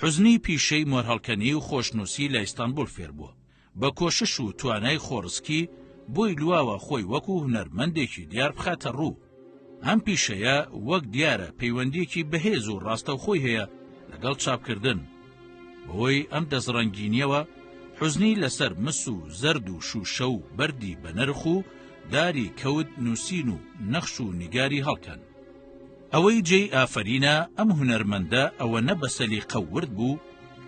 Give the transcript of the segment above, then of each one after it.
حوزنی پیشەی مۆرهەڵکەنی و خۆشنووسی لە ئیستانبوڵ فێر بووە. بە کۆشش و توانای خۆڕسکی بۆی لواوە خۆی وەکوو هونەرمەندێکی دیار بخاتە ڕوو. ئەم پیشەیە وەک دیارە پەیوەندییەکی بەهێز و ڕاستەوخۆی هەیە لەگەڵ چاپکردن. بەهۆی ئەم دەستڕەنگینییەوە حوزنی لەسەر مس و زەرد و شووشە و بەردی بەنرخ و داری کەوت نووسین و نەخش و نیگاری هەڵکەن. ئەوەی جێی ئافەرینە ئەم هونەرمەندە ئەوەنە بە سەلیقە و ورد بوو،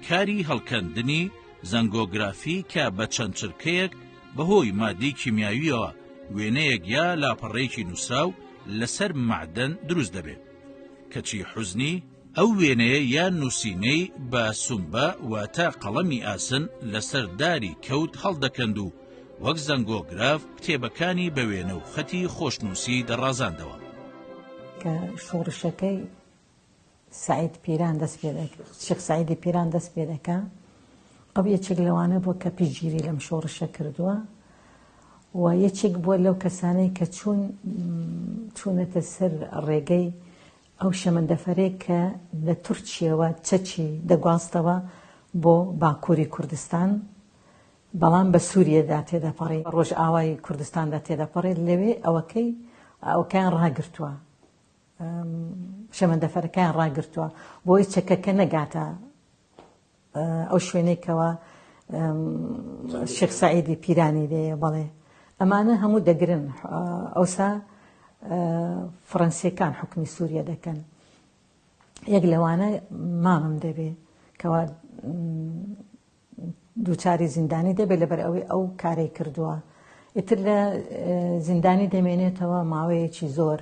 کاری هەڵکەندنی زەنگۆگرافی کە بە چەند چرکەیەک بە هۆی مادەی کیمیاوییەوە وێنەیەک یا لاپەڕەیەکی نووسراو لە سەر مەعدەن دروست دەبێت. کەچی حوزنی، ئەو وێنەیە یا نووسینەی بە سومبە واتە قەڵەمی ئاسن لە سەر داری کەوت هەڵدەکەند و وەک زەنگۆگراف کتێبەکانی بە وێنە و خەتی خۆشنووسی دەڕازاندەوە. کە شۆڕشەکەی سەعید پیران دەست پێ دەکرد، شێخ سەعیدی پیران دەست پێ دەکا، ئەو یەکێک لەوانە بووە کە پشتگیری لەم شۆڕشە کردووە و یەکێک بووە لەو کەسانەی کە چوون چوونەتە سەر ڕێگەی ئەو شەمەندەفەرێک کە لە تورکیەوە چەکی دەگواستەوە بۆ باکووری کوردستان بەڵام بە سوریەدا تێدەپەڕی، بە ڕۆژئاوای کوردستاندا تێدەپەڕێت، لەوێ ئەوەکەی ئەوەکەیان ڕاگرتووە، شەمەندەفەرەکەیان ڕاگرتووە، بۆی چەکەکە نەگاتە ئەو شوێنەی کەوا شێخ سەعیدی پیرانی لێیە، بەڵێ ئەمانە هەموو دەگرن، ئەوسا فڕەنسیەکان حوکمی سوریە دەکەن، یەک لەوانە مامم دەبێ کەوا دووچاری زیندانی دەبێت لەبەر ئەوەی ئەو کارەی کردووە ئیتر لە زیندانی دەمێنێتەوە ماوەیەکی زۆر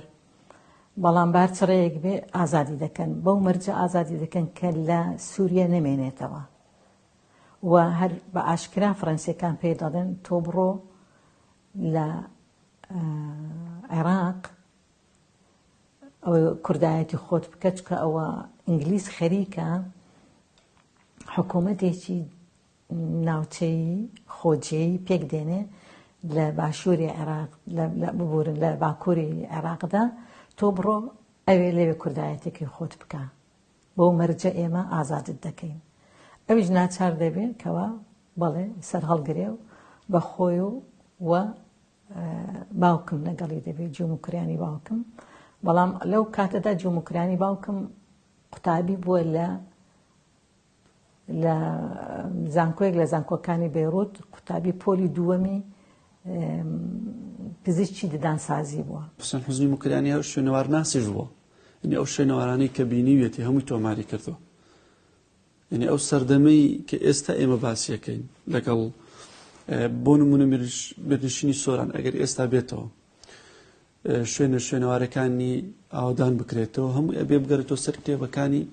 بەڵام بار چڕەیەک بێ ئازادی دەکەن بەو مەرجە ئازادی دەکەن کە لە سووریە نەمێنێتەوە و هەر بە ئاشکرا فڕەنسیەکان پێ دەڵێن تۆ بڕۆ لە عێراق ئەوەی کوردایەتی خۆت بکە چکە ئەوە ئینگلیز خەریکە حکوومەتێکی ناوچەیی خۆجێی پێک دێنێ لە باشووری عێراق ببورن لە باکووری عێراقدا تۆ بڕۆ ئەوێ لەوێ کوردایەتێکی خۆت بکە بۆ مەرجە ئێمە ئازادت دەکەین ئەویش ناچار دەبێت کەوا بەڵێ سەر هەڵگرێ و بە خۆی و و باوکم لەگەڵی دەبێت جوم و کریانی باوکم بەڵام لەو کاتەدا جوم و کریانی باوکم قوتابی بووە لە لە زانکۆیەک لە زانکۆکانی بێڕوت قوتابی پۆلی دووەمی پزیشکی ددانسازی بووە حسن حزنی مکرانی ئەو شوێنەوار ناسیش بووە ئەنی ئەو شوێنەوارانەی کە بینیویەتی هەمووی تۆماری کردو یەعنی ئەو سەردەمەی کە ئێستا ئێمە باسیەکەین لەگەڵ بۆ نمونە مێرنشینی سۆران ئەگەر ئێستا بێتەوە شوێنە شوێنەوارەکانی ئاودان بکرێتەوە هەموو ئەبێ بگەرێتەوە سەر کتێبەکانی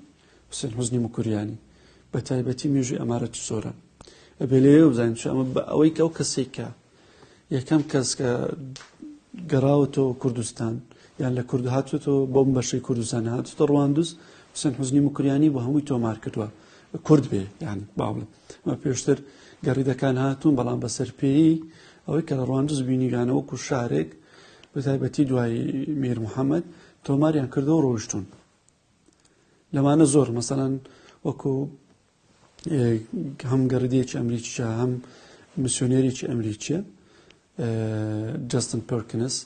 حسێن حزنی مکوریانی بە تایبەتی مێژوی ئەمارەتی سۆران ئەبێ لێ بزانین ئەمە بە ئەوەی کە ئەو کەسێکە یەکەم کەس کە گەڕاوەتەوە کوردستان یان لە کورد هاتوێتەوە بۆم بەشەی کوردستان هاتوتە ڕواندوس حسن حزنی مکریانی بۆ هەمووی تۆمار کردووە کورد بێ یان باڵێ مە پێشتر گەڕیدەکان هاتوون بەڵام بە سەرپێی ئەوەی کە لە ڕواندز بینیگانەوەکو شارێک بە تایبەتی دوای میر محەممەد تۆماریان کردەوە ڕۆشتون لەمانە زۆر مەسەەن وەکو هەم گەڕیدەیەکی ئەمریکیە هەم میسیۆنێرێکی ئەمریکیە جستن پرکنس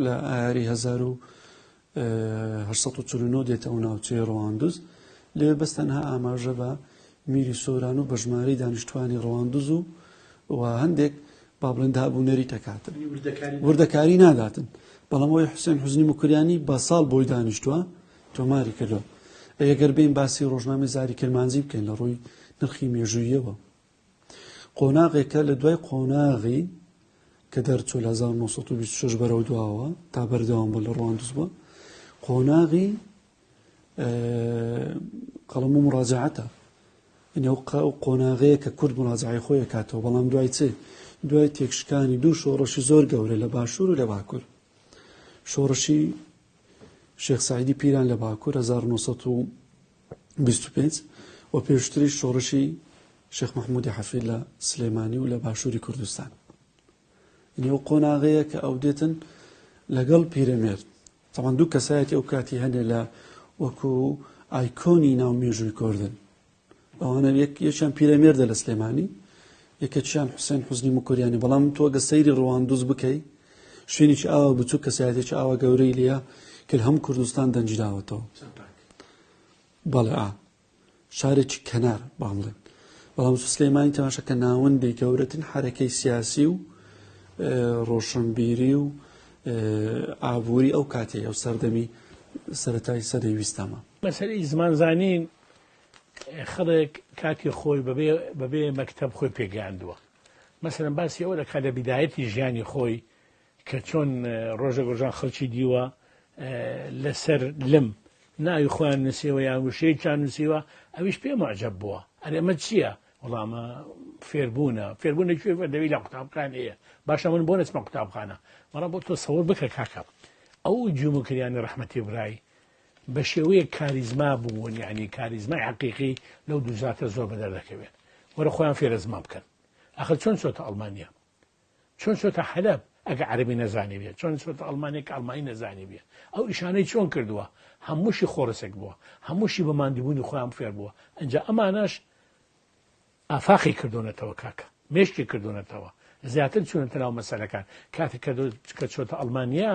لە ئاری 1940 دێتە ئەو ناوچەیە ڕواندوز لێ بەستەنها ئاماژە بە میری سۆران و بە ژماری دانیشتوانی ڕواندوز و و هەندێک با بڵێن دابوونەری تەکاتن وردەکاری ناداتن بەڵام ئەوی حوسێن حزنی مکریانی بە ساڵ بۆی دانیشتووە تۆماری کردوە. ئەی گەر بێین باسی ڕۆژنامەی زاری کرمانجی بکەین لە ڕووی نرخی مێژوویەوە قۆناغێکە لە دوای قۆناغی کە دەرچوو لە 1926 بەرەو دواوە تا بەردەوام بە لە ڕواندز بووە قۆناغی قەڵم و مڕاجعاتە ئەو قۆناغەیە کە کورد مڕاجعی خۆی کاتەوە بەڵام دوای چێ دوای تێکشکانی دوو شۆڕەشی زۆر گەورە لە باشوور و لە باکوور شۆڕشی شێخ سەعیدی پیران لە باکوور هەزار و نۆ سەد و بیست و پێنج و پێشتریش شۆڕشی شێخ مەحموودی حەفید لە سلێمانی و لە باشووری کوردستان یعنی ئەو قۆناغەیە کە ئەو دێتن لەگەڵ پیرەمێرد تەوان دوو کەسایەتی ئەو کاتی هەنێ لە وەکو ئایکۆنی ناو مێژووی کۆردن ئەوانە یەک یەکیان پیرەمێردە لە سلێمانی یەکەکیان حوسێن حوزنی مکوریانی بەڵام تۆ گە سەیری ڕواندوز بکەی شوێنێکی ئاوا بچوو کەسایەتێکی ئاوا گەورەی لە کە هەم کوردستان دەنجداوەتەوە بەڵێ شارێکی کەنار باڵێن بەڵام سلێمانی تەماشە کە ناوەندی گەورەتن حرەکەی سیاسی و ڕۆشنبیری و ئابووری ئەو کاتێ ئەو سەردەمی سەتای سەدەی ویستامە مەسەری زمانزانین خەڵک کاتی خۆی بەبێ بەبێ مەکتب خۆی پێگەیاندووە مەسەرم باسی ئەوە دەکات لە بیدایەتی ژیانی خۆی کە چۆن ڕۆژە گۆژان خەڵکی دیوە لەسەر لم ناوی خۆیان نووسیەوە یان وشەیەکیان نووسیوە ئەویش پێ معجب بووە ئەرێمە چییە وڵامە فێربوونە فێربوونە کوێ دەوی لە قوتابخان هەیە باشە من بۆ نسمە قوتابخانە بەڵام بۆ تۆ سەور بکە کاکە ئەو جومکریانی ڕحمەتی برای بە شێوەیەک کاریزما بوون یعنی کاریزمای حەقیقی لەو دوو زاتە زۆر بەدەر دەکەوێت وەرە خۆیان فێرە زمان بکەن ئەخر چۆن چۆتە ئەڵمانیا چۆن چۆتە حەلب ئەگە عەربی نەزانی بێت چۆن چۆتە ئەڵمانێک ئەڵمانی نەزانی بێت ئەو ئیشانەی چۆن کردووە هەمووشی خۆڕسێک بووە هەمووشی بە ماندوبوونی خۆیان فێر بووە ئەجا ئەمانەش ئافاقی کردوونەتەوە کاکە مێشکی کردوونەتەوە زیاتر چونەتە ناو مەسەلەکان کاتێک کە چۆتە ئەڵمانیا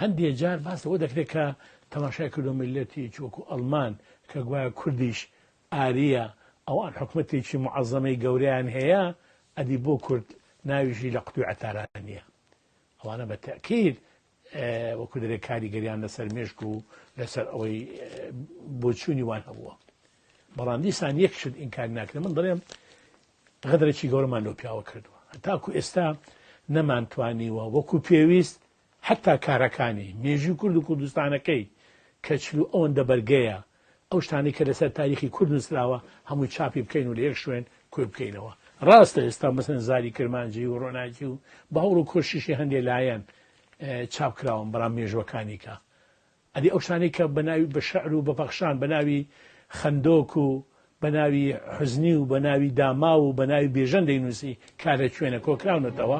هەندێ جار باس لەوە دەکرێت کە تەماشای کردوە میللەتێکی وەکو ئەڵمان کە گوایە کوردیش ئاریە، ئەوان حکومەتێکی موعەزەمەی گەورەیان هەیە، ئەدی بۆ کورد ناویشی لە قوتوی عەتارا نیە؟ ئەوانە بە تەئکید وەکو دەرێ کاریگەریان لەسەر مێشک و لەسەر ئەوەی بۆچوونی وان هەبووە. بەڵام دیسان یەک شت ئینکار ناکرێ من دەڵێم غەدرێکی گەورەمان لەو پیاوە کردووە تاکو ئێستا نەمانتوانیوە وەکو پێویست هەتا کارەکانی، مێژووی کورد و کوردستانەکەی، کە چل و ئەوەندە بەرگەیە، ئەو شتانەی کە لەسەر تاریخی کورد نووسراوە، هەمووی چاپی بکەین و لە یەک شوێن کۆی بکەینەوە. ڕاستە ئێستا مەسەلەن زاری کرمانجی و ڕۆناکی و بە هەوڵ و کۆششی هەندێ لایەن چاپ کراون، بەڵام مێژووەکانی کە؟ ئەدی ئەو شتانەی کە بە ناوی بە شعر و بە پەخشان بە ناوی خەندۆک و بە ناوی حوزنی و بە ناوی داماو و بە ناوی بیژەن دەینووسی کا لە کوێنە کۆکراونەتەوە؟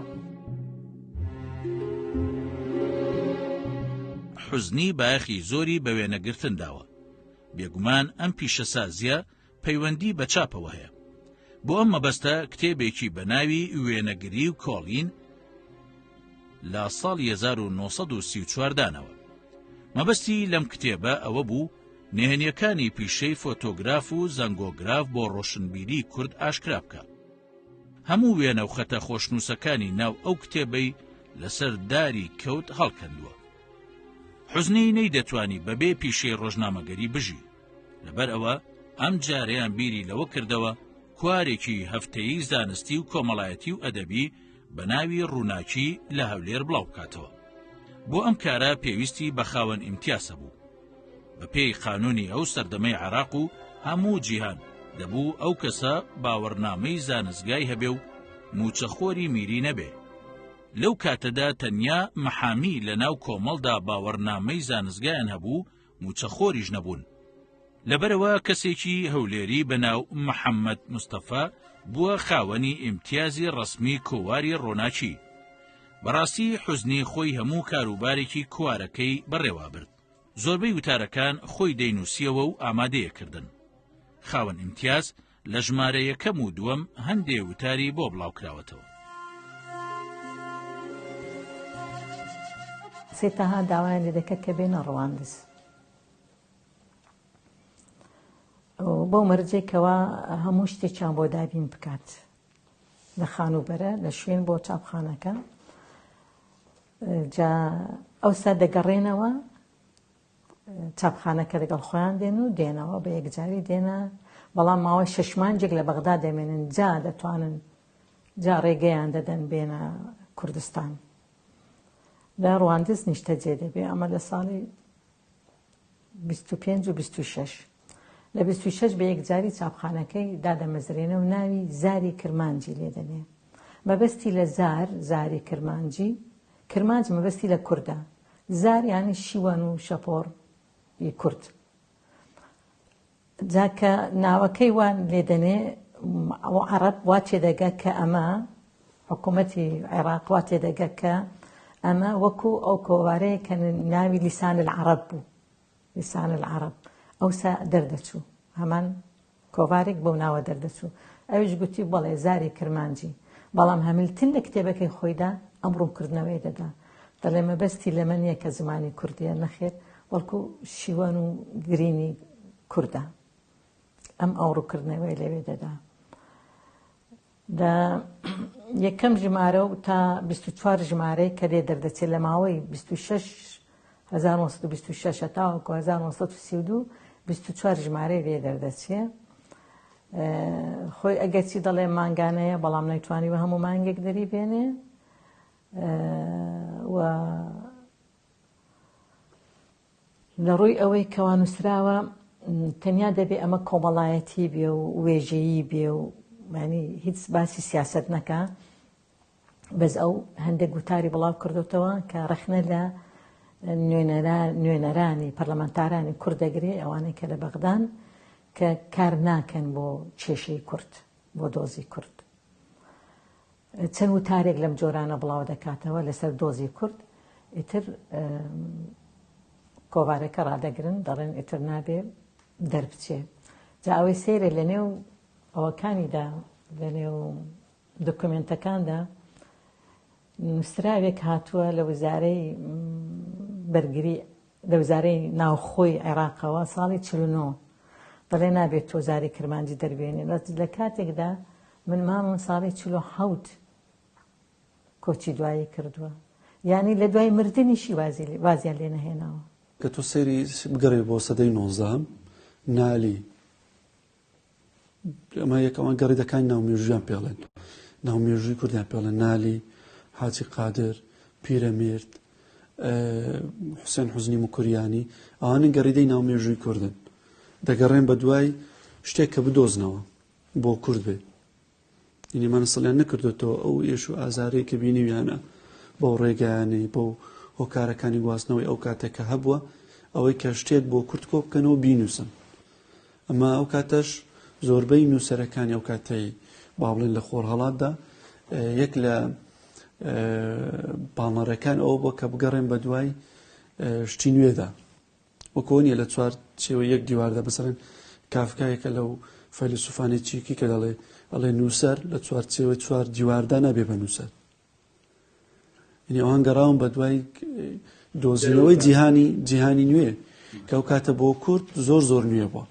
حوزنی بایەخی زۆری بە وێنەگرتن داوە. بێگومان ئەم پیشەسازییە پەیوەندی بە چاپەوە هەیە. بۆ ئەم مەبەستە کتێبێکی بە ناوی وێنەگری و کۆڵین لە ساڵی 1934 دانەوە. مەبەستی لەم کتێبە ئەوە بوو نهێنیەکانی پیشەی فۆتۆگراف و زەنگۆگراف بۆ ڕۆشنبیری کورد ئاشکرا بکە. هەموو وێنە و خەتە خۆشنووسەکانی ناو ئەو کتێبەی لەسەر داری کەوت هەڵکەندووە. حزنی نەی دەتوانی بەبێ پیشەی ڕۆژنامەگەری بژی. لەبەر ئەوە ئەم جارەیان بیری لەوە کردەوە کوارێکی هەفتەیی زانستی و کۆمەڵایەتی و ئەدەبی بە ناوی ڕووناکی لە هەولێر بڵاو بکاتەوە بۆ ئەم کارە پێویستی بە خاوەن ئیمتیاسە بوو بە پێی قانونی ئەو سەردەمەی عراق و هەموو جیهان دەبوو ئەو کەسە باوەڕنامەی زانستگای هەبێ و موچەخۆری میری نەبێ لەو کاتەدا تەنیا محامی لە ناو کۆمەڵدا باوەڕنامەی زانستگایان هەبوو موچەخۆریش نەبوون لەبەرئەوە کەسێکی هەولێری بەناو محەمەد مستەفا بووە خاوەنی ئیمتیازی ڕەسمی کۆواری ڕۆناکی بەڕاستی حوزنی خۆی هەموو کاروبارێکی کوارەکەی بەڕێوابرد زۆربەی وتارەکان خۆی دەینووسیەوە و ئامادەیەکردن خاوەن ئیمتیاز لە ژمارە یەکەم و دووەم هەندێ وتاری بۆ بڵاوکراوەتەوە. سید تەها داوایان لێ دەکرد کە بێنە ڕواندز بەو مەرجێک کەوا هەموو شتێکیان بۆ دابین بکات لە خانووبەرە لە شوێن بۆ چاپخانەکە جا ئەوسا دەگەڕێنەوە چاپخانە کە لەگەڵ خۆیان دێن و دێنەوە بە یەکجاری دێنە بەڵام ماوەی شەش مانجێک لە بەغدا دەمێنن جا دەتوانن جا ڕێگەیان دەدەن بێنە کوردستان لە ڕواندز نیشتەجێ دەبێ ئەمە لە ساڵی 25 و 26 لە 26 بە یەکجاری چاپخانەکەی دادەمەزرێنە و ناوی زاری کرمانجی لێدەنێ مەبەستی لە زار زاری کرمانجی کرمانج مەبەستی لە کوردە زار یانی شیوەن و شەپۆڕ ی کورد. جا کە ناوەکەی وا لێ دەنێ و عەڕەب وا تێ دەگا کە ئەمە، حکوومەتی عێڕاق وا تێ دەگا کە ئەمە وەکوو ئەو کۆوارەیە کە ناوی لیسان العەڕەب بوو، لیسان العەڕەب، ئەوسا دەردەچوو هەمان کۆڤارێک بەو ناوە دەردەچوو. ئەویش گوتی، بەڵێ، زاری کرمانجی. بەڵام هەمیلتن لە کتێبەکەی خۆیدا ئەم ڕوونکردنەوەی دەدا. دەڵێ، مەبەستی لەمە نییە کە زمانی کوردییە، نەخێر، بەڵکو شیوەن و گرینی کوردە. ئەم ئەو ڕوونکردنەوەی لەوێ دەدا. لە یەکەم ژمارە و تا بیست و چوار ژمارەی کە لێ دەردەچێت لە ماوەی بیست و شەش هەزار و نۆ سەد و بیست و شەش تاوەکو هەزار و نۆ سەد و سی و دوو بیست و چوار ژمارەی لێ دەردەچێ خۆی ئەگەرچی دەڵێ مانگانەیە بەڵام نەیتوانی بە هەموو مانگێک دەری بێنێ و لە ڕووی ئەوەی کەوا نووسراوە تەنیا دەبێ ئەمە کۆمەڵایەتی بێ و وێژەیی بێ و مانی هیچ باسی سیاست نەکە بەس ئەو هەندێک گوتاری بڵاو کردوتەوە کە ڕخنە لە نوێنەرانی پەرلەمانتارانی کورد دەگرێ ئەوانەی کە لە بەغدان کە کار ناکەن بۆ کێشەی کورد بۆ دۆزی کورد چەند وتارێک لەم جۆرانە بڵاو دەکاتەوە لەسەر دۆزی کورد ئیتر کۆوارەکە ڕادەگرن دەڵێن ئیتر نابێ دەربچێ جا ئەوەی سێرە لە نێو ئەوەکانیدا لە نێو دکمنتەکاندا نووسراوێک هاتووە لە وزارەی بەرگری لە وزارەی ناوخۆی عێراقەوە ساڵی چل و نۆ دەڵێ نابێت تۆ زاری کرمانجی دەربێنی بەس لە کاتێکدا من مامم ساڵی چل و حەوت کۆچی دوایی کردووە یانی لە دوای مردنیشی وازیان لێ نەهێناوە گە تۆ سەیری بگەڕێ بۆ سەدەی نۆزدەهەم نالی ئەمە یەک ئەوان گەڕیدەکانی ناو مێژویان پێڵێن ناو مێژووی کوردیان پێڵە نالی حاجی قادر پیرەمێرد حوسێن حوزنی مکوریانی ئەوانە گەڕیدەی ناو مێژووی کوردن دەگەڕێن بە دوای شتێک کە بدۆزنەوە بۆ کورد بێ یعنی مەنسڵیان نەکردوێتەوە ئەو ئێش و ئازارەی کە بینیویانە بەو ڕێگایانەی بەو هۆکارەکانی گواستنەوەی ئەو کاتێک کە هەبووە ئەوەی کە شتێک بۆ کورت کۆ بکەنەوە بینوسن ئەمە ئەو کاتەش زۆربەی نووسەرەکانی ئەو کاتەی با بڵێن لە خۆر هەڵاتدا یەک لە پاڵنەرەکان ئەوە بۆ کە بگەڕێن بە دوای شتی نوێدا وەکۆ نیە لە چوار چێوەی یەک دیواردا بسەرێن کافکایەکە لەو فەیلسوفانی چیکی کە دەڵێ ئەڵێ نووسەر لە چوار چێوەی چوار دیواردا نابێ بە نووسەر یعنی ئەوان گەڕاون بە دوای دۆزینەوەی جیهانی جیهانی نوێ کە ئەو کاتە بۆ کورد زۆر زۆر نوێ بووە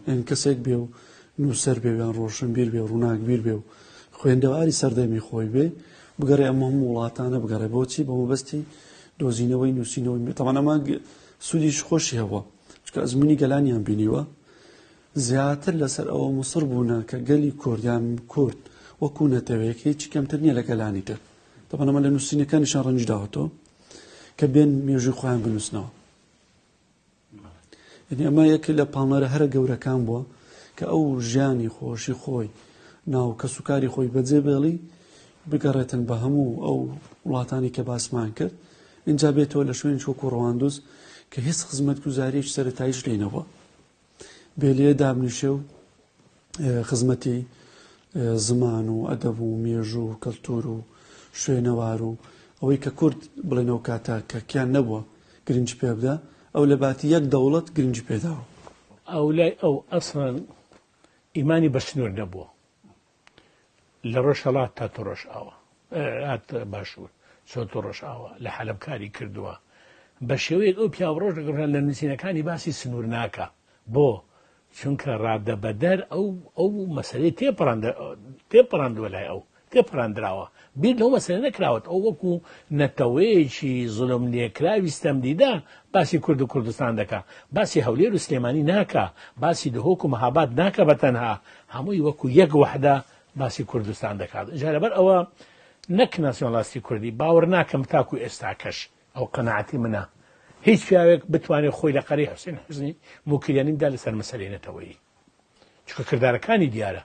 یان کەسێک بێ و نووسەر بێ یان ڕۆشنبیر بێ و ڕووناکبیر بێ و خوێندەواری سەردەمی خۆی بێ بگەڕێ ئەمە هەموو وڵاتانە بگەڕێ بۆچی بە مەبەستی دۆزینەوەی نووسینەوەی بێتەوانەما سوودیش خۆشی هەبووە چکە ئەزمموی گەلانیان بینیوە زیاتر لەسەر ئەوە مسر بوونە کە گەلی کوردیان کورد وەکو نەتەوەیەک هیچ کەمتر نییە لە گەلانی تر دەبنەمە لە نووسینەکانیشان ڕەنج داوەتەوە کە بێن مێژوی خۆیان بنووسنەوە یعنی ئەمە یەکێ لە پاڵنەرە هەرە گەورەکان بووە کە ئەو ژیانی خۆشی خۆی ناو کەس و کاری خۆی بەجێ بێڵی بگەڕێتن بە هەموو ئەو وڵاتانی کە باسمان کرد اینجا بێتەوە لە شوێن چۆک و ڕواندوز کە هیچ خزمەت گوزاریش سەرتایش لێنەوە بێلێ دابنیشێ و خزمەتی زمان و ئەدەب و مێژوو و کەلتور و شوێنەوار و ئەوەی کە کورد بڵێن ئەو کاتە کە کیان نەبووە گرنج پێ بدە ئەو لە باتی یەک دەوڵەت گرنج پێداوە ئەو لای ئەو ئەسڵەن ئیمانی بە سنوور نەبووە لە ڕۆژهڵات تا تۆ ڕۆژ ئاوە هات باشوور چۆن تۆ ڕۆژ ئاوە لە حەلب کاری کردووە بە شێوەیەک ئەو پیاوڕۆژ دەگەڕان لە نووسینەکانی باسی سنوور ناکە بۆ؟ چونکە ڕادەبەدەر ئەو ئەو مەسەلەی تێپەڕاندووە لای ئەو تێپەڕاندراوە بیر لەو مەسەلە نەکراوەت ئەو وەکو نەتەوەیەکی زلم لێکراوی ستەمدیدا باسی کورد و کوردستان دەکا باسی هەولێر و سلێمانی ناکە باسی دهۆک و مەهاباد ناکە بە تەنها هەمووی وەکو یەک وحدە باسی کوردستان دەکات جارەبەر ئەوە نەک ناسیۆنلاستی کوردی باوەڕ ناکەم تاکو ئێستاکەش ئەوە قەناعەتی منە. هیچ پیاوێک بتوانێت خۆی لە قەرەی حوسێن حوسنی موکریانی بدا لەسەر مەسەلەی نەتەوەیی. چونکە کردارەکانی دیارە.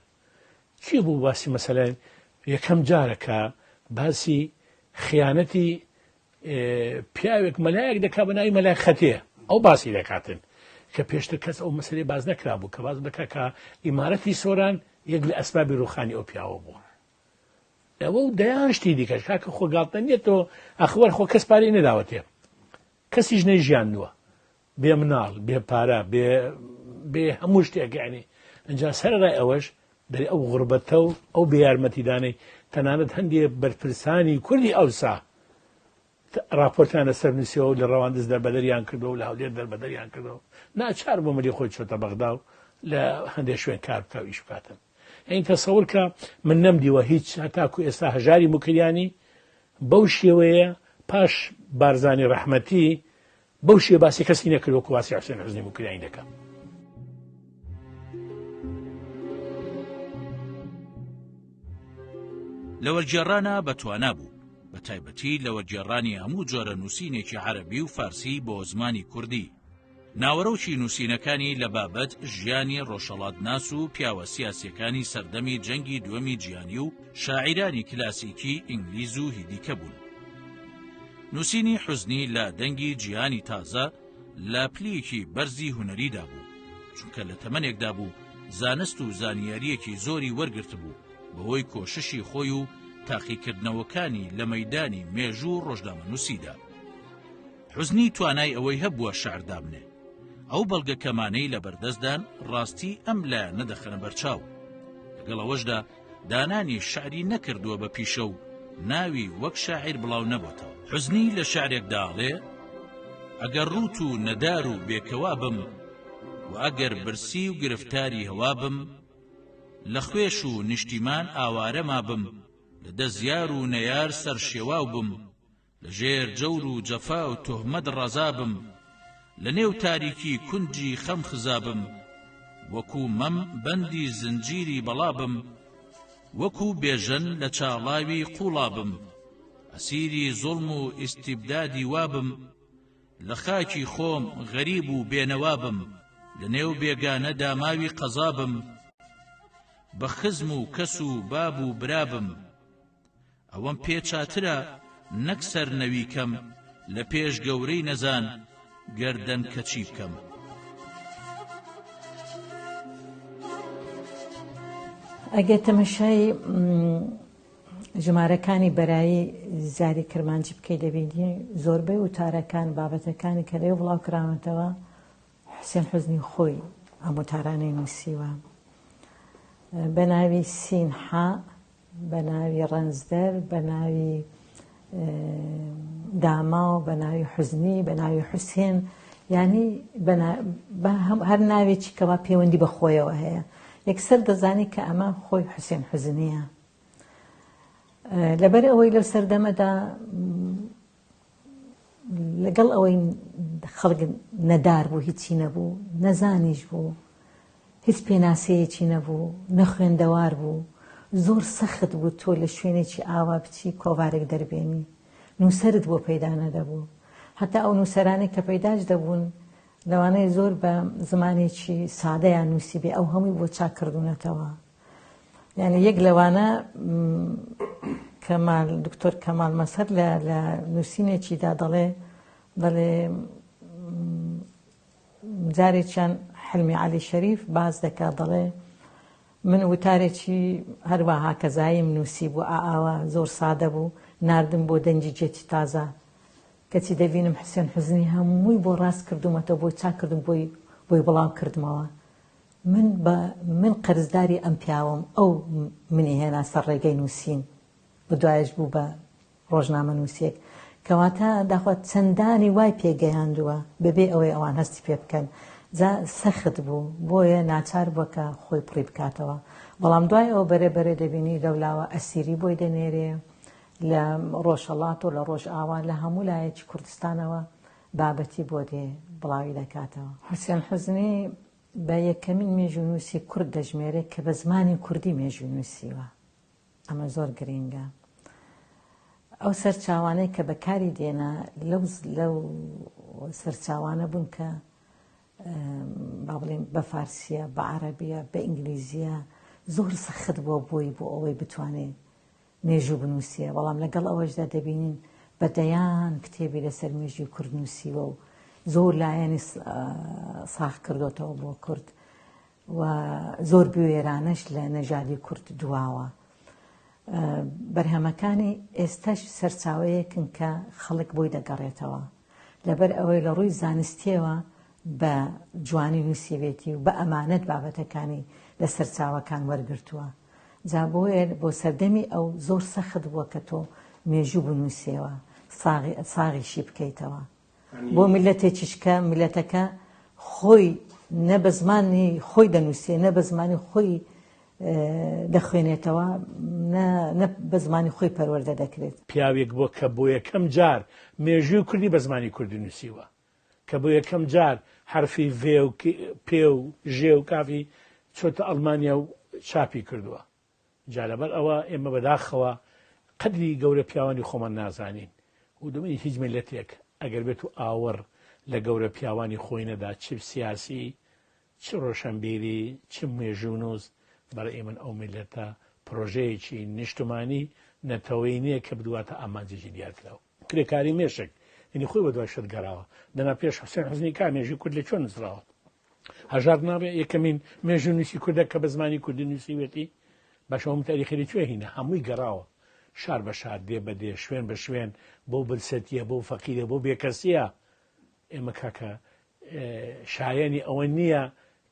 کێ بوو باسی مەسەلە یەکەم جارە کە باسی خیانەتی پیاوێک مەلایەک دەکا بە ناوی مەلای خەتێ ئەو باسی دەکاتن کە پێشتر کەس ئەو مەسلەی باز نەکرا بوو کە باز دەکا کە ئیمارەتی سۆران یەک لە ئەسبابی ڕوخانی ئەو پیاوە بوو ئەوە و دەیان شتی دیکەش کاکە خۆ گاڵتە نیە تۆ ئەخوەر خۆ کەس پارەی نەداوەتێ کەسیش نەی ژیان نووە بێ مناڵ بێ پارە بێ بێ هەموو شتێکیانی ئەجا سەرڕای ئەوەش دەری ئەو غربەتە و ئەو بێ یارمەتیدانەی تەنانەت هەندێ بەرپرسانی کوردی ئەوسا ڕاپۆرتیان لەسەر نووسیەوە و لە ڕەواندزدا بەدەریان کردەوە و لە هەولێر دەربەدەریان کردەوە. ناچار بوو ملی خۆی چۆتە بەغدا و لە هەندێک شوێن کار بکا و ئیش بکاتن. یعنی تەسەور کە من نەمدیوە هیچ هەتاکو ئێستا هەژاری موکریانی بەو شێوەیە پاش بارزانی ڕەحمەتی بەو شێ باسی کەسی نەکرد وەکو باسی حسێن حزنی بکرانی دەکەم. لەوەرگێڕانە بە توانا بوو بە تایبەتی لەوەرگێڕانی هەموو جۆرە نووسینێکی عەربی و فارسی بۆ زمانی کوردی ناوەرۆکی نووسینەکانی لە بابەت ژیانی ڕۆژەڵات ناس و پیاوە سیاسەکانی سەردەمی جەنگی دووەمی جیانی و شاعیرانی کلاسیکی ئینگلیز و هیدیکە بوون. نووسینی حوزنی لە دەنگی جیهانی تازە لە پلیکی بەرزی هونەریدا بوو، چونکە لە تەمەنێکدا بوو زانست و زانیارییەکی زۆری وەرگرتبوو بەهۆی کۆششی خۆی و تاقیکردنەوەکانی لە مەیدانی مێژوو و ڕۆژنامەنووسیدا. حوزنی توانای ئەوەی هەبووە شعر دابنێ. ئەو بەڵگەکەمانەی لەبەردەستدان ڕاستی ئەم لایەنە دەخەنە بەرچاو. لەگەڵ ئەوەشدا دانانی شعری نەکردووە بە پیشە و ناوی وەک شاعیر بڵاو نەبۆتەوە حوزنی لە شعرێک داڵێ ئەگەر ڕووت و نەدار و بێکەوا بم و ئەگەر برسی و گرفتاری هەوا بم لە خوێش و نیشتیمان ئاوارەما بم لە دەزیار و نەیار سەرشێواو بم لە ژێر جەور و جەفا و تۆهمەت ڕزا بم لە نێو تاریکی کونجی خەم خزا بم وەکو مەم بەندی زنجیری بەڵا بم وەکو بێژەن لە چاڵاوی قوڵا بم ئەسیری زوڵم و ئیستیبدادی وا بم لە خاکی خۆم غەریب و بێنەوا بم لە نێو بێگانە داماوی قەزا بم بە خزم و کەس و باب و برا بم ئەوەم پێ چاترە نەک سەر نەوی کەم لە پێش گەورەی نەزان گەردەن کەچی بکەم. ئەگەر تەمەشای ژمارەکانی بەرایی زاری کرمانجی بکەی دەبینی زۆربەی وتارەکان بابەتەکانی کە لێ بڵاو کراونەتەوە حسێن حزنی خۆی ئەم وتارانەی نووسیوە بە ناوی سینحا بە ناوی ڕەنجدەر، بە ناوی داماو، بە ناوی حوزنی، بە ناوی حوسێن، یانی هەر ناوێکی کەوا پێوەندی بە خۆیەوە هەیە، یەکسەر دەزانی کە ئەمە خۆی حوسێن حوزنییە. لەبەر ئەوەی لەو سەردەمەدا لەگەڵ ئەوەی خەڵک نەدار بوو هیچی نەبوو نەزانیش بوو هیچ پێناسەیەکی نەبوو نەخوێندەوار بوو زۆر سەخت بوو تۆ لە شوێنێکی ئاوا بچی کۆڤارێک دەربێنی نووسرت بۆ پەیدا نەدەبوو هەتا ئەو نووسەرانێک کە پەیداش دەبوون لەوانەیە زۆر بە زمانێکی سادەیان نووسیبێ ئەو هەمووی بۆ چاککردوونەتەوە یانی یەک لەوانە کەمال دکتۆر کەمال مەسەر لە لە نووسینێکیدا دەڵێ دەڵێ جارێکیان حلمی علی شەریف باز دەکا دەڵێ من وتارێکی هەروەها کەزاییم نووسی بوو ئاوا زۆر سادە بوو نردم بۆ دەنجی جێتی تازە کەچی دەبینم حسێن حزنی هەمووی بۆ ڕاست کردومەتە بۆی چاکردم بۆی بۆی بڵاو کردمەوە من بە من قەرزداری ئەم پیاوەم ئەو منی هێنا سەر ڕێگەی نووسین و دوایەش بوو بە ڕۆژنامەنووسێک کەواتە داخوا چەندانی وای پێ گەیاندووە بەبێ ئەوەی ئەوان هەستی پێ بکەن جا سەخت بوو بۆیە ناچار بووە کە خۆی پڕی بکاتەوە بەڵام دوای ئەو بەرێ بەرێ دەبینی لەولاوە ئەسیری بۆی دەنێرێ لە ڕۆژهەڵات و لە ڕۆژئاوا لە هەموو لایەکی کوردستانەوە بابەتی بۆ دێ بڵاوی دەکاتەوە حوسێن حوزنی بە یەکەمین مێژوونووسی کورد دەژمێرێت کە بە زمانی کوردی مێژوو نووسیوە. ئەمە زۆر گرینگە. ئەو سەرچاوانەی کە بەکاری دێنا لەو لەو سەرچاوانە بوون کە با بڵێن بە فارسییە، بە عەرەبییە، بە ئینگلیزییە زۆر سەخت بووە بۆی بۆ ئەوەی بتوانێت مێژوو بنووسێ، بەڵام لەگەڵ ئەوەشدا دەبینین بە دەیان کتێبی لەسەر مێژووی کورد نووسیوە و زۆر لایەنی ساغ کردۆتەوە بۆ کورد و زۆر بوێرانەش لە نەژادی کورد دواوە. بەرهەمەکانی ئێستەش سەرچاوەیەکن کە خەڵک بۆی دەگەڕێتەوە لەبەر ئەوەی لە ڕووی زانستیەوە بە جوانی نووسیبێتی و بە ئەمانەت بابەتەکانی لە سەرچاوەکان وەرگتووە. جا بۆیە بۆ سەردەمی ئەو زۆر سەخت بووە کە تۆ مێژوو بنووسیەوە ساغیشی بکەیتەوە بۆ میللەتێکیش کە میللەتەکە خۆی نە بە زمانی خۆی دەنووسێ نە بە زمانی خۆی دەخوێنێتەوە نە بە زمانی خۆی پەروەردە دەکرێت. پیاوێک بووە کە بۆ یەکەم جار مێژووی کوردی بە زمانی کوردی نووسیوە. کە بۆ یەکەم جار حەرفی ڤێ و پێ و ژێ و کافی چۆتە ئەڵمانیا و چاپی کردووە. جا لەبەر ئەوە ئێمە بەداخەوە قەدری گەورە پیاوانی خۆمان نازانین و دەمەنی هیچ میللەتێک ئەگەر بێت و ئاوڕ لە گەورە پیاوانی خۆی نەدا چ سیاسی چ ڕۆشەنبیری چ مێژوونووس بەڕەئی من ئەو میللەتە پڕۆژەیەکی نیشتمانی نەتەوەیی نیە کە بدواتە ئامانجێکی دیارکراو. کرێکاری مێشک یەنی خۆی بەدوای شت گەڕاوە دەنا پێش حوسێن حوزنی کا مێژووی کورد لە کوێ نووسراوە؟ هەژار ناڕێ یەکەمین مێژوونووسی کوردە کە بە زمانی کوردی نووسیوێتی؟ باشە هەموو تاریخی لە کوێ هینە؟ هەمووی گەڕاوە شار بە شار دێ بە دێ شوێن بە شوێن بەو برسێتیە بەو فەقیرە بەو بێکەسیە ئێمە کاکە شایەنی ئەوە نییە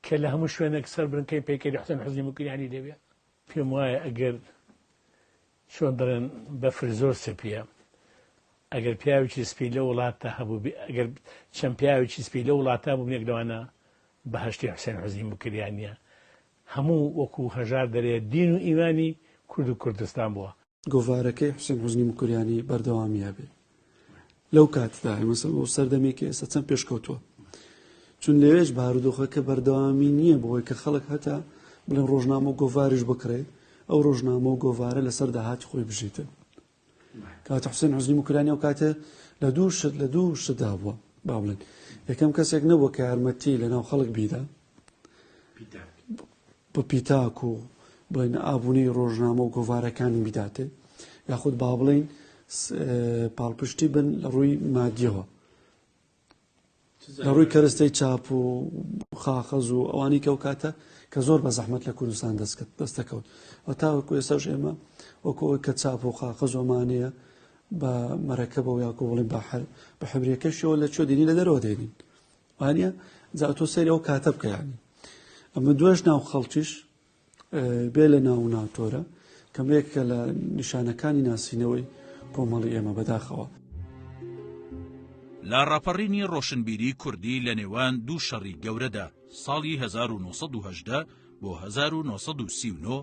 کە لە هەموو شوێنێک سەر برنکەی پەیکەری حسێن حوزنی موکریانی دەبێت پێم وایە ئەگەر چۆن دەڵێن بەفر زۆر سپیە ئەگەر پیاوێکی سپی لە وڵاتە هەبوو ئەگەر چەند پیاوێکی سپی لە وڵاتە بوو یەک لەوانە بەهشتی حوسێن حوزی مکریانە هەموو وەکو هەژار دەرێ دین و ئیمانی کورد و کوردستان بووە. گۆڤارەکەی حوسێن حوزنی مکوریانی بەردەوامی هەبێ لەو کاتدا ئێمە سەر بۆ سەردەمێکی ئێستا چەند پێشکەوتووە چون لەوێش بارودۆخەکە بەردەوامی نییە بۆی کە خەڵک هەتا بڵێن ڕۆژنامە و گۆڤاریش بکڕێ ئەو ڕۆژنامە و گۆڤارە لەسەر داهاتی خۆی بژیتن کاک حوسێن حوزنی موکرانی ئەو کاتێ لە دوو شت لە دوو شتدا بووە با بڵێن یەکەم کەسێک نەبووە کە یارمەتی لە ناو خەڵک بیدا بە پیتاک و بڵێن ئابوونەی ڕۆژنامە و گۆوارەکانی بداتێ یاخود با بڵین پاڵپشتی بن لە ڕووی مادیەوە لە ڕووی کەرستەی چاپ و خاخەز و ئەوانی کەو کاتە کە زۆر بە زەحمت لە کوردستان دەستکرد دەستەکەوت و تاوەکو ئێساش ئێمە وەکو ئەوی کە چاپ و خاخە زۆمانەیە بە مەرەکە بە یاکۆ بڵین بەحر بە حبرەکەشەوە لە چۆ دێنی لە دەرەوە دێنین وانە جاتۆ سەری ئەو کاتە بکەیانی ئەمە دوێش ناو خەڵکیش بێ لە ناو و ناوتۆرە کەمێکە لە نیشانەکانی ناسینەوەی کۆمەڵی ئێمە بەداخەوە. لاڕاپەڕینی ڕۆشنبیری کوردی لە نێوان دوو شەڕی گەورەدا، ساڵی هەزار و نۆ سەد و هەژدە بۆ هەزار و نۆ سەد و سی و نۆ،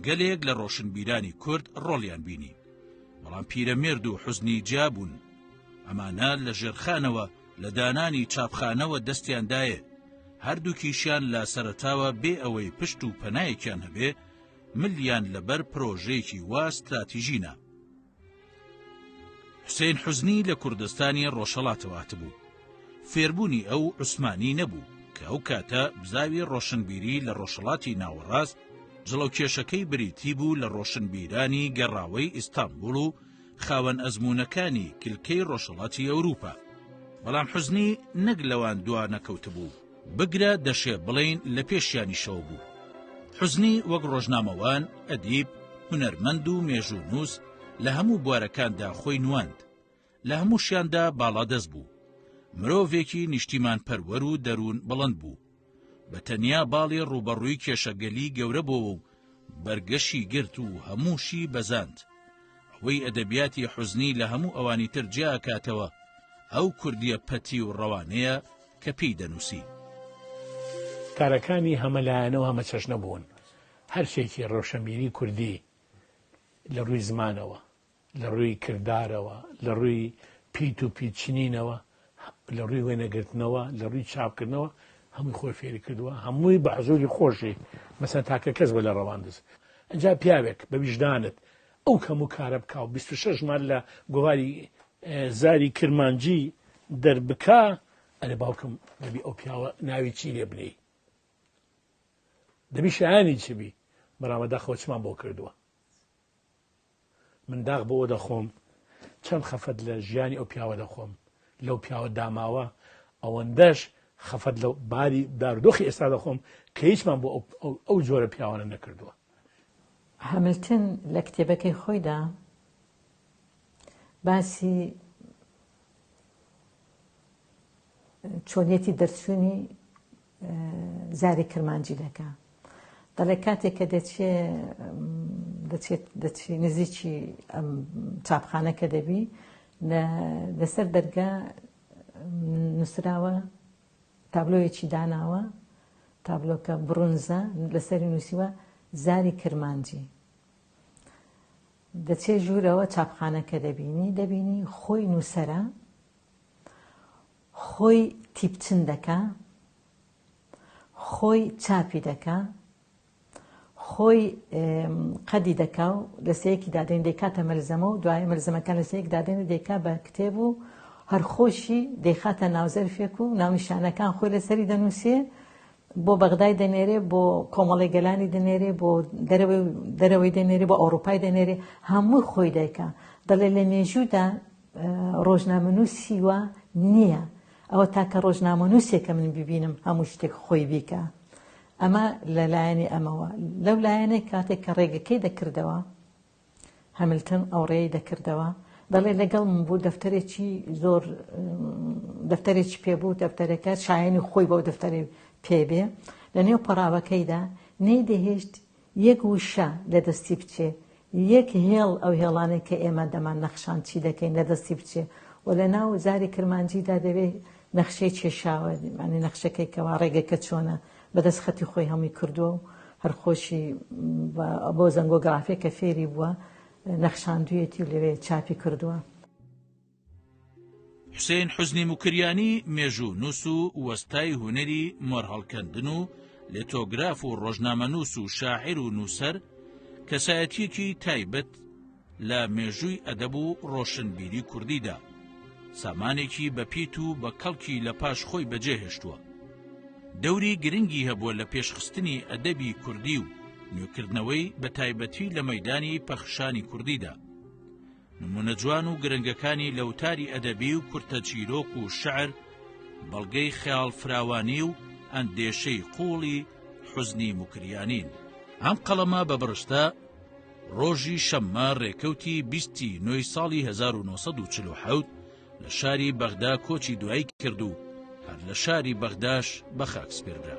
گەلێک لە ڕۆشنبیرانی کورد ڕۆڵیان بینی، بەڵام پیرەمێرد و حوزنی جیا بوون، ئەمانە لە ژێرخانەوە، لە دانانی چاپخانەوە دەستیان دایێ، هەردووکیشیان لە سەرەتاوە بێ ئەوەی پشت و پەنایەکیان هەبێ، ملیان لە بەر پرۆژەیەکی وا ستراتیژی نا. حوسەین حوزنی لە کوردستانی ڕۆژهەڵاتەوە هاتبوو. فێربوونی ئەو عوسمانی نەبوو، کە ئەو کاتە بزاوی ڕۆشنبیری لە ڕۆژهەڵاتی ناوەڕاست، جڵەوکێشەکەی بریتی بوو لە ڕۆشنبیرانی گەڕاوەی ئیستانبوڵ و، خاوەن ئەزموونەکانی کلکەی ڕۆژهەڵاتی ئەوروپا. بەڵام حوزنی نەک لەوان دوا نەکەوتبوو، بگرە دەشێ بڵێین لە پێشیانیشەوە بوو. حوزنی وەک ڕۆژنامەوان، ئەدیب، هونەرمەند و مێژوونووس لە هەموو بوارەکاندا خۆی نواند. لە هەمووشیاندا باڵادەست بوو. مرۆڤێکی نیشتیمانپەروەر و دەروون بڵند بوو. بە تەنیا باڵی ڕووبەڕووی کێشەگەلی گەورە بۆوە و بەرگەشی گرت و هەمووشی بەزاند. ئەوەی ئەدەبیاتی حوزنی لە هەموو ئەوانی تر جیا ئەکاتەوە، ئەو کوردییە پەتی و ڕەوانەیە کە پێی دەنووسی. کارەکانی هەمەلایەنە و هەمەچەشنە بوون، هەرچێکی ڕەوشەنبیری کوردی لە ڕووی زمانەوە، لە ڕووی کردارەوە، لە ڕووی پیت و پیت چنینەوە، لە ڕووی وێنە گرتنەوە، لە ڕووی چاپ کردنەوە هەمووی خۆی فێری کردووە، هەمووی بە حزووری خۆشی مەسەن تاکە کەس بە لە ڕەواندز. ئەجا پیاوێک بە ویژدانت ئەو هەموو کارە بکا و بیست و شەش مار لە گۆواری زاری کرمانجی دەر بکا ئەرێ باوکم دەبی ئەو پیاوە ناوی چی لێ بنێی؟ دەبی شایانی چ بی؟ برا بەداخەوە چمان بۆ کردووە؟ من داخ بەوە دەخۆم چەند خەفەت لە ژیانی ئەو پیاوە دەخۆم لەو پیاوە داماوە ئەوەندەش خەفەت لە باری دارودۆخی ئێستا دەخۆم کە هیچمان بۆ ئەو جۆرە پیاوانە نەکردووە هەملتن لە کتێبەکەی خۆیدا باسی چۆنیەتی دەرچوونی زاری کرمانجی دەکا دەڵێ کاتێک کە دەچێ دەچێت دەچی نزیکی ئەم چاپخانە کە دەبی لەسەر دەرگا نووسراوە تابلۆیەکی داناوە تابلۆکە بڕونزە لەسەری نووسیوە زاری کرمانجی دەچێ ژوورەوە چاپخانەکە دەبینی دەبینی خۆی نووسرە خۆی تیپچن دەکا خۆی چاپی دەکا خۆی قەدی دەکا و لەسەیەکی دادەین دەیکاتە مەلزەمە و دوای مەلزەمەکان لەسەیەک دادەین و دەیکا بە کتێب و هەرخۆشی دەیخاتە ناوزەرفێک و ناونیشانەکان خۆی لەسەری دەنووسێ بۆ بەغدای دەنێرێ بۆ کۆمەڵی گەلانی دەنێرێ بۆ دەرەوەی دەنێرێ بۆ ئەوروپای دەنێرێ هەموو خۆی دایکە دەڵێ لە مێژوودا ڕۆژنامەنووسی وا نییە ئەوە تاکە ڕۆژنامەنووسێکە من ببینم هەموو شتێک خۆی بیکە ئەمە لە لایەنی ئەمەوە لەو لایەنێک کاتێک کە ڕێگەکەی دەکردەوە هەملتن ئەو ڕێی دەکردەوە دەڵێ لەگەڵ من بوو دەفتەرێکی زۆر دەفتەرێکی پێبوو دەفتەرەکە شایانی خۆی بەو دەفتەری پێبێ لە نێو پەراوەکەیدا نەیدەهێشت یەک وشە لە دەستی بچێ، یەک هێڵ ئەو هێڵانەی کە ئێمە دەمان نەخشان چی دەکەین لە دەستی بچێ و لە ناو زاری کرمانجیدا دەبێ نەخشەی چێشاوە، یانی نەخشەکەی کەوا ڕێگەکە چۆنە بە دەست خەتی خۆی هەمووی کردووە و هەر خۆشی بە بۆ زەنگۆگرافێ کە فێری بووە نەخشاندوویەتی و لەوێ چاپی کردووە. حوسێن حوزنی موکریانی مێژوو نووس و وەستای هونەری مۆرهەڵکەندن و لێتۆگراف و ڕۆژنامە نووس و شاعر و نووسەر کەسایەتیەکی تایبەت لە مێژووی ئەدەب و ڕۆشنبیری کوردیدا سامانێکی بەپیت و بە کەڵکی لە پاش خۆی بەجێهێشتووە دەوری گرنگی هەبووە لە پێشخستنی ئەدەبی کوردی و نوێکردنەوەی بە تایبەتی لە مەدانی پەخشانی کوردیدا نموونە جوان و گرنگەکانی لە وتاری ئەدەبی و کورتە چیرۆک و شعر، بەڵگەی خەیاڵ فراوانی و ئەندێشەی قووڵی حوزنی موکریانین. ئەم قەڵەمە بە بڕشتە ڕۆژی شەممە ڕێکەوتی بیستی نۆی ساڵی هەزار و نۆ سەد و چل و حەوت لە شاری بەغدا کۆچی دوایی کرد و هەر لە شاری بەغداش بە خاک سپێردرا.